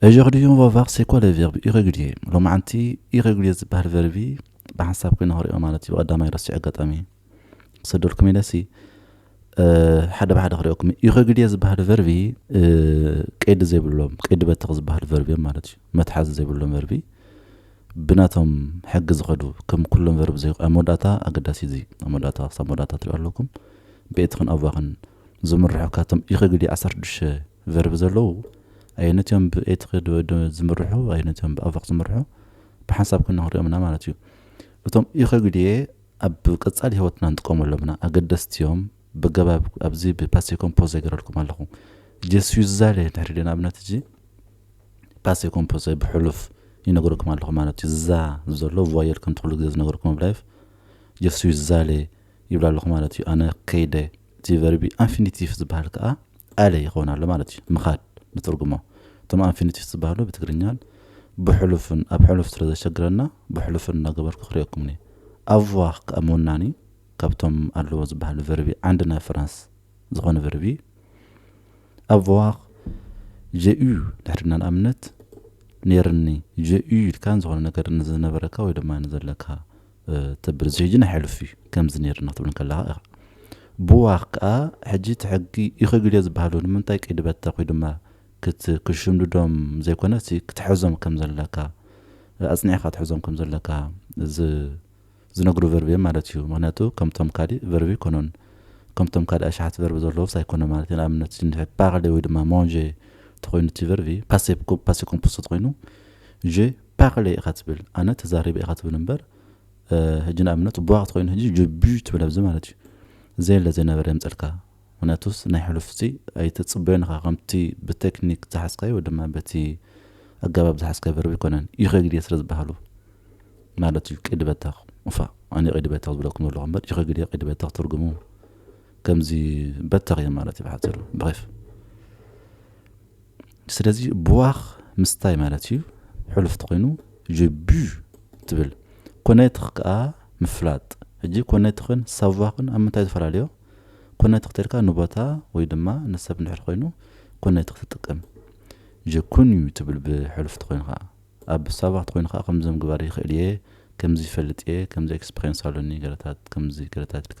Aujourd'hui on va voir c'est quoi le verbe irrégulier ሎማዓንቲ irrégulier ዝበሃል ቨርቢ ብሓንሳብ ኮይና ክሪኦ ማለት እዩ ቀዳማይ ረሲዑ ኣጋጣሚ ክሰደልኩም ኢለ ሲ ሓደ ብሓደ ክሪኦኩም irrégulier ዝበሃል ቨርቢ ቀይዲ ዘይብሎም ቀይዲ በተኽ ዝበሃል ቨርቢ እዮም ማለት እዩ መትሓዚ ዘይብሎም ቨርቢ ብናቶም ሕጊ ዝኸዱ ከም ኩሎም ቨርቢ ዘይ ኣብ መወዳእታ ኣገዳሲ እዚ ኣብ መወዳእታ ክሳብ መወዳእታ ትሪኦ ኣለኩም ብኤትኽን ኣዋኽን ዝምርሑ ካብቶም ኢኪ ግዲ ዓሰርተ ሽዱሽተ ቨርብ ዘለዉ ኣየኖት እዮም ብ ኤትኪ ዶ ዝምርሑ ኣየኖት እዮም ብ ኣቨክ ዝምርሑ ብሓንሳብ ኮይና ክንሪኦም እና ማለት እዩ እቶም ኢኪ ግዲየ ኣብ ቀጻሊ ሂወትና ንጥቀመሎም ኢና ኣገደስቲ እዮም በገባብ ኣብዚ ብ ፓሴ ኮምፖዘ ገረልኩም ኣለኩ ጀ ስዊ ዝዛለ እንድሕሪ ድየ ንኣብነት እዚ ፓሴ ኮምፖዘ ብ ሕሉፍ ይነግረልኩም ኣለኩ ማለት እዩ ዝዛ ዘሎ ቮየል ከም ትክሉ ግዜ ዝነገርኩም ኣብ ላይፍ ጀ ስዊ ዝዛለ ይብላ ኣለኹ ማለት እዩ። ኣነ ከይደ እቲ ቨርቢ ኣንፊኒቲፍ ዝበሃል ከኣ ኣለ ይኸውን ኣሎ ማለት እዩ። ምኻድ ንትርጉሞ። እቶም ኣንፊኒቲፍ ዝበሃሉ ብትግርኛን ብሕሉፍን ኣብ ሕሉፍ ስለ ዘሸግረና ብሕሉፍን እናገበርኩ ክርእየኩም እየ። ኣቭዋር ከኣ ምውናን እዩ። ካብቶም ኣለዎ ዝበሃሉ ቨርቢ ዓንዲ ናይ ፍራንስ ዝኾነ ቨርቢ እዩ። ኣቭዋር ጀ ዩ ድሕሪ ኢልና ንኣብነት ኔርኒ ጀ ዩ ኢልካ ንዝኾነ ነገር ንዝነበረካ ወይ ድማ ንዘለካ ተብል እዚ ሕጂ ናይ ሕሉፍ እዩ ከምዚ ነይርና ክትብል ከለካ ኢካ ብዋክ ከኣ ሕጂ እቲ ሕጊ ይክግል እዮ ዝበሃሉ ንምንታይ ቅይዲ በተክ ወይ ድማ ክትሽምድዶም ዘይኮነስ ክትሕዞም ከም ዘለካ ኣጽኒዕካ ክትሕዞም ከም ዘለካ ዝነግሩ ቨርብ እዮም ማለት እዩ ምክንያቱ ከምቶም ካሊእ ቨርብ ኣይኮኑን ከምቶም ካሊእ ኣሽሓት ቨርብ ዘለዎስ ኣይኮነ ማለት እዩ ንኣብነት እንድሕር ፓርሌ ወይ ድማ ሞንጄ ተኮይኑ እቲ ቨርብ ፓሴ ፓሴ ኮምፖስቶ ተኮይኑ ጄ ፓርሌ ኢካ ትብል ኣነ ተዛሪበ ኢካ ትብል እምበር ህጂ ንኣብነት ቧክት ኮይኑ ህጂ ጁጁ ትብል ኣብዚ ማለት እዩ ዘየለ ዘይነበረ የምጸልካ ምክንያቱስ ናይ ሕሉፍ ሲ ኣይትጽበዮን ኢካ ከምቲ ብቴክኒክ ዝሓዝካዮ ወይ ድማ በቲ ኣገባብ ዝሓዝካዮ ቨርብ ኣይኮነን ይኸግድየ ስለ ዝበሃሉ ማለት እዩ ቅዲ በተኽ እፋ ኣነ ቅዲ በተኽ ዝብለኩም ዘለኹ እምበር ይኸግድየ ቅዲ በተኽ ትርጉሙ ከምዚ በተኽ እዮም ማለት እዩ ብሓፂሩ ብኸፍ ስለዚ ቡዋኽ ምስታይ ማለት እዩ፣ ሕሉፍ ተኾይኑ je bue ትብል። ኮነትኽ ከኣ ምፍላጥ። ሕጂ ኮነትኽን ሳቫኽን ኣብ ምንታይ ዝፈላለዮ? ኮነትኽ ተልካ ንቦታ ወይ ድማ ንሰብ እንድሕር ኮይኑ ኮነትኽ ትጥቀም። je connu ትብል ብሕሉፍ ተኾይኑ ከኣ። ኣብ ሳቫኽ ተኾይኑ ከኣ ከምዚ ምግባር ይኽእል እየ፣ ከምዚ ይፈልጥ እየ፣ ከምዚ ኤክስፕሬንስ ኣሎኒ ገለታት ከምዚ ገለታት ኢልካ።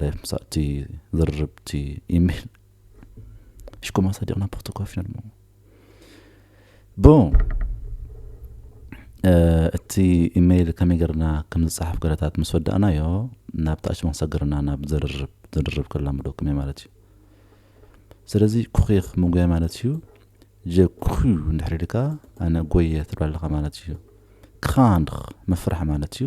ላይፍ ምሳእ እቲ ዝርርብ እቲ ኢሜል ሽኮማ ሳዲቅና ፖርቶኮ ፊና ድማ ብ እቲ ኢሜይል ከመይ ገርና ከም ዝፀሓፍ ገረታት ምስ ወዳእናዮ ናብ ታች መክሰግርና ናብ ዝርርብ ዝርርብ ከላምደኩም እየ ማለት እዩ ስለዚ ኩኺኽ ምጉያ ማለት እዩ ጀኩ እንድሕር ኢልካ ኣነ ጎየ ትብላለኻ ማለት እዩ ክኻንኽ ምፍራሕ ማለት እዩ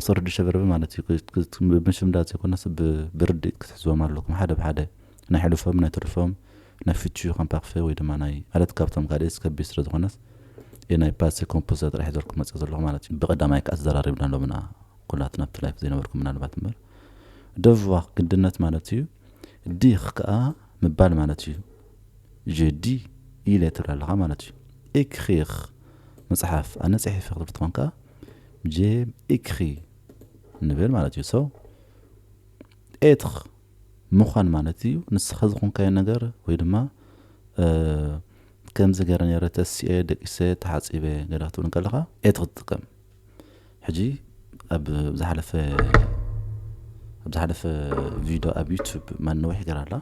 ኣሰርዱ ሸበርቢ ማለት እዩ ብምሽምዳድ ዘይኮነስ ብርድኢት ክትሕዝቦም ኣለኩም ሓደ ብሓደ ናይ ሕሉፎም ናይ ትርፎም ናይ ፍቹ ከምፓክፈ ወይ ድማ ናይ ማለት ካብቶም ካልእ ዝከቢ ስለ ዝኾነስ እዩ ናይ ፓሴ ኮምፖዛ ጥራሕ ሒዘልኩም መፅእ ዘለኹ ማለት እዩ ብቀዳማይ ከዓ ተዘራሪብና ሎምና ኩላትና ኣብቲ ላይፍ ዘይነበርኩም ምናልባት እምበር ደቭዋ ግድነት ማለት እዩ ዲኽ ከኣ ምባል ማለት እዩ። Je dis ኢለ ትብል ኣለኻ ማለት እዩ። Écrire ምጽሓፍ፣ ኣነ ጽሒፈ ክትብል ትኾን ከኣ J'ai écrit ንብል ማለት እዩ። So Être ምዃን ማለት እዩ። ንስኻ ዝኾንካዮ ነገር ወይ ድማ ከምዚ ገይረ ነይረ፣ ተሲኤ፣ ደቂሰ፣ ተሓጺበ ገለ ክትብል እንከለኻ Être ትጥቀም። ሕጂ ኣብ ዝሓለፈ ኣብ ዝሓለፈ ቪድዮ ኣብ ዩቱብ ማነዊሕ ገራ ኣላ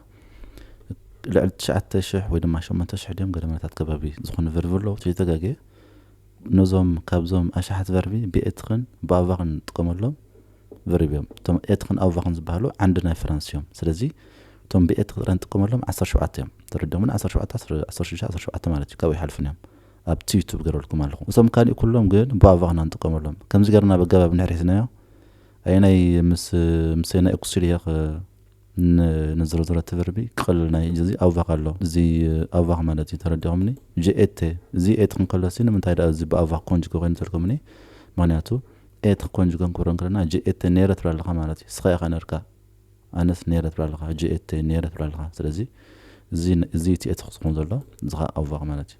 ልዕሊ ትሽዓተ ሽሕ ወይ ድማ ሸሞንተ ሽሕ ድዮም ገደማታት ከባቢ ዝኾኑ ቨርቢ ኣለዉ ተይተጋገ ነዞም ካብዞም ኣሽሓት ቨርቢ ብኤትኽን ብኣቫኽን ንጥቀመሎም ቨርቢ እዮም እቶም ኤትኽን ኣቫኽን ዝበሃሉ ዓንዲ ናይ ፈረንስ እዮም ስለዚ እቶም ብኤትኽ ጥራይ ንጥቀመሎም ዓሰርተ ሸውዓተ እዮም ተረዲኦምን ዓሰርተ ሸውዓተ ዓሰርተ ሽዱሽተ ዓሰርተ ሸውዓተ ማለት እዩ ካብኡ ይሓልፉን እዮም ኣብ ትዩቱብ ገረልኩም ኣለኹ እቶም ካሊእ ኩሎም ግን ቧቫ እና ንጥቀመሎም ከምዚ ገርና በገባብ እንሕሪትናዮ ኣየናይ ምስ ምሰ ናይ እኩሲልየኽ ን ንዝረዝረ ትብርቢ ክቐልል ናይ እዚ ኣውቫክ ኣሎ እዚ ኣውቫክ ማለት እዩ ተረዲኹምኒ ጂ ኤተ እዚ ኤት ክንከሎ ሲ ንምንታይ ደኣ እዚ ብኣውቫክ ኮንጅጎ ኮይኑ ተልኩምኒ ምክንያቱ ኤት ኮንጅጎ ክንክብሮ እንክለና ጂ ኤተ ነይረ ትብላ ኣለኻ ማለት እዩ ስኻ ኢኻ ነርካ ኣነስ ነይረ ትብላ ኣለኻ ጂ ኤተ ነይረ ትብላ ኣለኻ ስለዚ እዚ እዚ እቲ ኤት ክኸውን ዘሎ እዚ ኸኣ ኣውቫክ ማለት እዩ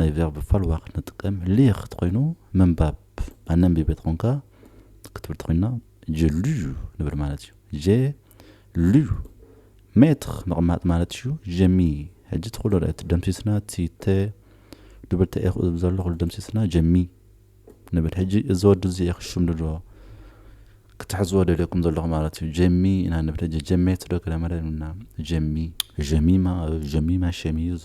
ናይ ቨርብ ፋልዋ ክንጥቀም ሊኽ ተኾይኑ ምንባብ ኣነንቢበ ተኾንካ ክትብል ተኾይና ጀሉዩ ንብል ማለት እዩ ጀ ልዩ ሜትር ምቕማጥ ማለት እዩ ጀሚ ሕጂ እቲ ኩሎ እቲ ደምሲስና እቲ ተ ድብል ተኤኹ ዘሎ ኩሉ ደምሲስና ጀሚ ንብል ሕጂ እዚ ወዲ እዚ እየ ክሽም ድሎ ክትሕዝዎ ደልየኩም ዘለኹ ማለት እዩ ጀሚ ኢና ንብል ሕጂ ጀሜት ዶ ገለ መለ ንብልና ጀሚ ጀሚማ ጀሚማ ሸሚዝ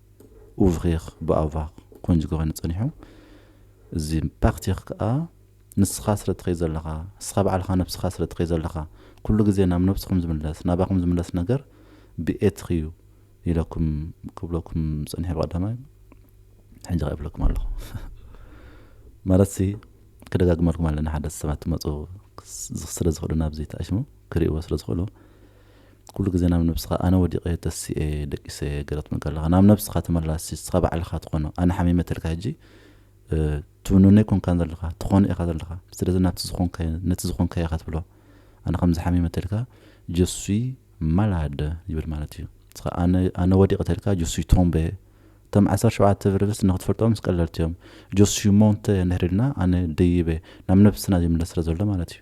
ኡቭሪር ብኣቫር ኮይኑ ዝገበረኒ ጸኒሑ እዚ ፓርቲር ከኣ ንስኻ ስለ ትኸይድ ዘለኻ ንስኻ ባዕልኻ ነብስኻ ስለ ትኸይድ ዘለኻ ኩሉ ግዜ ናብ ነብስኹም ዝምለስ ናባኹም ዝምለስ ነገር ብኤትር'ዩ ኢለኩም ክብለኩም ጸኒሐ ብቐዳማይ ሕጂ ከኣ ይብለኩም ኣለኹ ማለትሲ ክደጋግመልኩም ኣለኒ ሓደ ሰባት ትመጹ ስለ ዝኽእሉ ናብዚ ተኣሽሙ ክርእይዎ ስለ ዝኽእሉ ኩሉ ግዜ ናብ ነብስኻ ኣነ ወዲቀ ተሲኤ ደቂሰ ገለ ክትብል ከለኻ ናብ ነብስኻ ተመላሲ ንስኻ ባዕልኻ ትኾኖ ኣነ ሓሚመ ተልካ ሕጂ ትውንኖ ኣይኮንካን ዘለኻ ትኾኖ ኢኻ ዘለኻ ስለዚ ናብቲ ዝኾንካዮ ነቲ ዝኾንካዮ ኢኻ ትብሎ ኣነ ከምዚ ሓሚመ ተልካ ጀሱይ ማላደ ይብል ማለት እዩ ንስኻ ኣነ ኣነ ወዲቀ ተልካ ጀሱይ ቶምበ እቶም ዓሰርተ ሸውዓተ ቨርብስ ንክትፈልጦም ምስ ቀለልቲ እዮም ጀሱይ ሞንተ እንድሕር ኢልና ኣነ ደይበ ናብ ነብስና ዝምለስ ስለ ዘሎ ማለት እዩ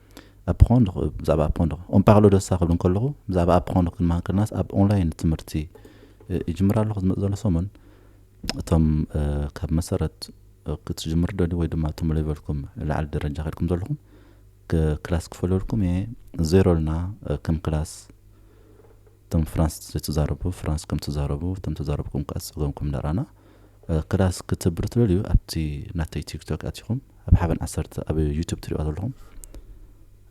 ኣፕረንድር ብዛዕባ ኣፕረንድር ኦን ፓርሎ ደሳ ክብል እንከለኹ ብዛዕባ ኣፕረንድር ክንመሃር ከለናስ ኣብ ኦንላይን ትምህርቲ ይጅምር ኣለኹ ዝመፅ ዘሎ ሰሙን እቶም ካብ መሰረት ክትጅምር ደልዩ ወይ ድማ እቶም ሌቨልኩም ላዕሊ ደረጃ ከድኩም ዘለኹም ክላስ ክፈለልኩም እየ ዜሮ ልና ከም ክላስ እቶም ፍራንስ ዘይተዛረቡ ፍራንስ ከም ተዛረቡ እቶም ተዛረብኩም ከዓ ፀገምኩም ዳራና ክላስ ክትብር ትደልዩ ኣብቲ ናተይ ቲክቶክ ኣቲኩም ኣብ ሓበን ዓሰርተ ኣብ ዩቱብ ትሪኦ ዘለኹም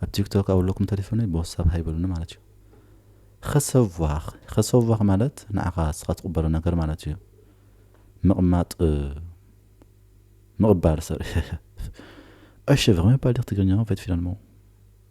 ኣብ ቲክቶክ ኣብለኩም ተሌፎነይ ብወሳብ ሃይበሉኒ ማለት እዩ ኸሰዋኽ ኸሰዋኽ ማለት ንዓኻ ስኻ ትቕበሎ ነገር ማለት እዩ ምቕማጥ ምቕባል ሰር ዕሽፍ ኸመይ ባልዲኽ ትግርኛኹም ፈትፊለንሞ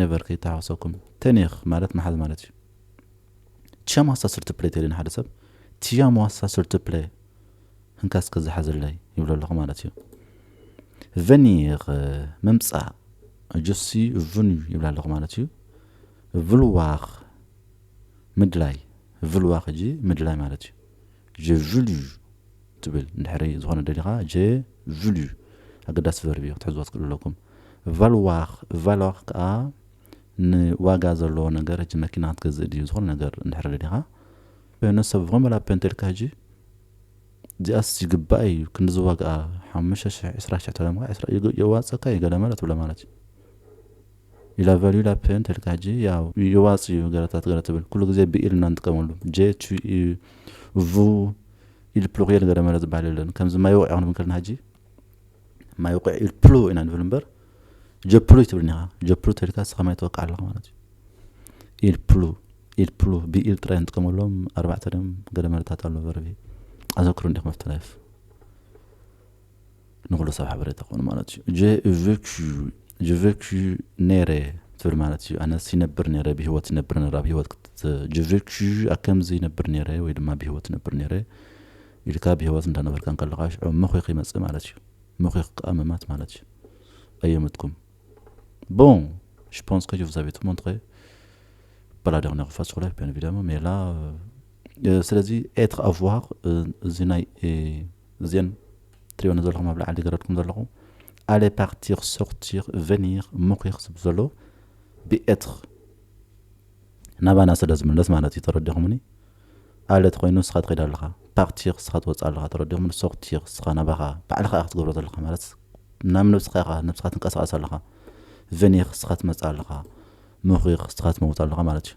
ነቨር ከይተሓዋወሰኩም ተኒኽ ማለት ምሓዝ ማለት እዩ ቲሻም ዋሳ ስርቲ ፕሌ ተይሉ ንሓደ ሰብ ቲሻም ዋሳ ስርቲ ፕሌ ህንካ እስከ ዝሓዘለይ ይብሎ ኣለኹ ማለት እዩ ቨኒር ምምፃእ ጆሲ ቭን ይብላ ኣለኹ ማለት እዩ ቭልዋኽ ምድላይ ቭልዋኽ እጂ ምድላይ ማለት እዩ Je vulu ትብል እንድሕሪ ዝኾነ ደሊኻ Je vulu ኣገዳሲ ቨርብ እዩ ክትሕዝዎ ትክእሉ ኣለኩም። Valoir Valoir ከኣ ን ዋጋ ዘለዎ ነገር ሕጂ መኪና ክትገዝእ ድዩ ዝኾነ ነገር እንድሕሪ ደሊኻ Je ne sais vraiment la peine ተልካ ሕጂ እዚኣስ ይግባኣ እዩ ክንድዚ ዋግኣ ሓሙሽተ ሽሕ ዕስራ ሽሕ ተለምካ ዕስራ የዋጽኣካ እዩ ገለ መለ ትብሎ ማለት እዩ። ኢላ ቫልዩ ላፐን ተልካ ጂ ያው ይዋጽ እዩ ገረታት ገረ ትብል ኩሉ ግዜ ብ ኢል እና ንጥቀመሉ ጀ ቹ ዩ ቭ ኢል ፕሉርየል ገረ መረ ዝባሃል የለን ከምዚ ማይ ውቅዒ ክንብል ከለና ሀጂ ማይ ውቅዒ ኢል ፕሉ ኢና ንብል እምበር ጀ ፕሉ ኣይትብልን ኢካ ጀ ፕሉ ተልካ ንስካ ማይ ተወቅዕ ኣለካ ማለት እዩ ኢል ፕሉ ኢል ፕሉ ብ ኢል ጥራይ ንጥቀመሎም ኣርባዕተ ድዮም ገረ መረታት ኣሎ ቨርቢ ኣዘክሩ እንዲኩም ኣፍተላይፍ ንኹሉ ሰብ ሓበሬታ ክኾኑ ማለት እዩ ጀ ቨኩ ጀቨኩ ነረ ትብል ማለት እዩ ኣነስ ይነብር ነረ ብሂወት ይነብር ነረ ኣብ ሂወት ጀቨኩ ኣከምዚ ይነብር ነረ ወይ ድማ ብሂወት ይነብር ነረ ኢልካ ብሂወት እንዳነበርካ ከለካ ሽዑ መኺኽ ይመፅእ ማለት እዩ መኺኽ ከዓ ምማት ማለት እዩ ኣየምትኩም ቦን ሽፖንስ ከ ዩቭዛቤቱ ሞንትኸ በላደቕ ነኽፋት ሱላይ ፔን ቪዳሞ ሜላ ስለዚ ኤትኽ ኣፍዋሃኽ እዚ ናይ እዘን ትሪኦን ዘለኹም ኣብ ላዕሊ ገረድኩም ዘለኹ ኣለ ፓርቲር ሶርቲር ቨኒር ሙኪር ዝብ ዘሎ ብኤትር ናባና ስለ ዝምለስ ማለት እዩ ተረዲኹምኒ ኣለ ተኮይኑ ንስኻ ትኸይድ ኣለኻ ፓርቲር ንስኻ ትወፅእ ኣለኻ ተረዲኹምኒ ሶርቲር ንስኻ ናባኻ ባዕልኻ ኢኻ ክትገብሮ ዘለኻ ማለት ናብ ነብስኻ ኢኻ ነብስኻ ትንቀሳቀስ ኣለኻ ቨኒር ንስኻ ትመፅእ ኣለኻ ሙኪር ንስኻ ትመውት ኣለኻ ማለት እዩ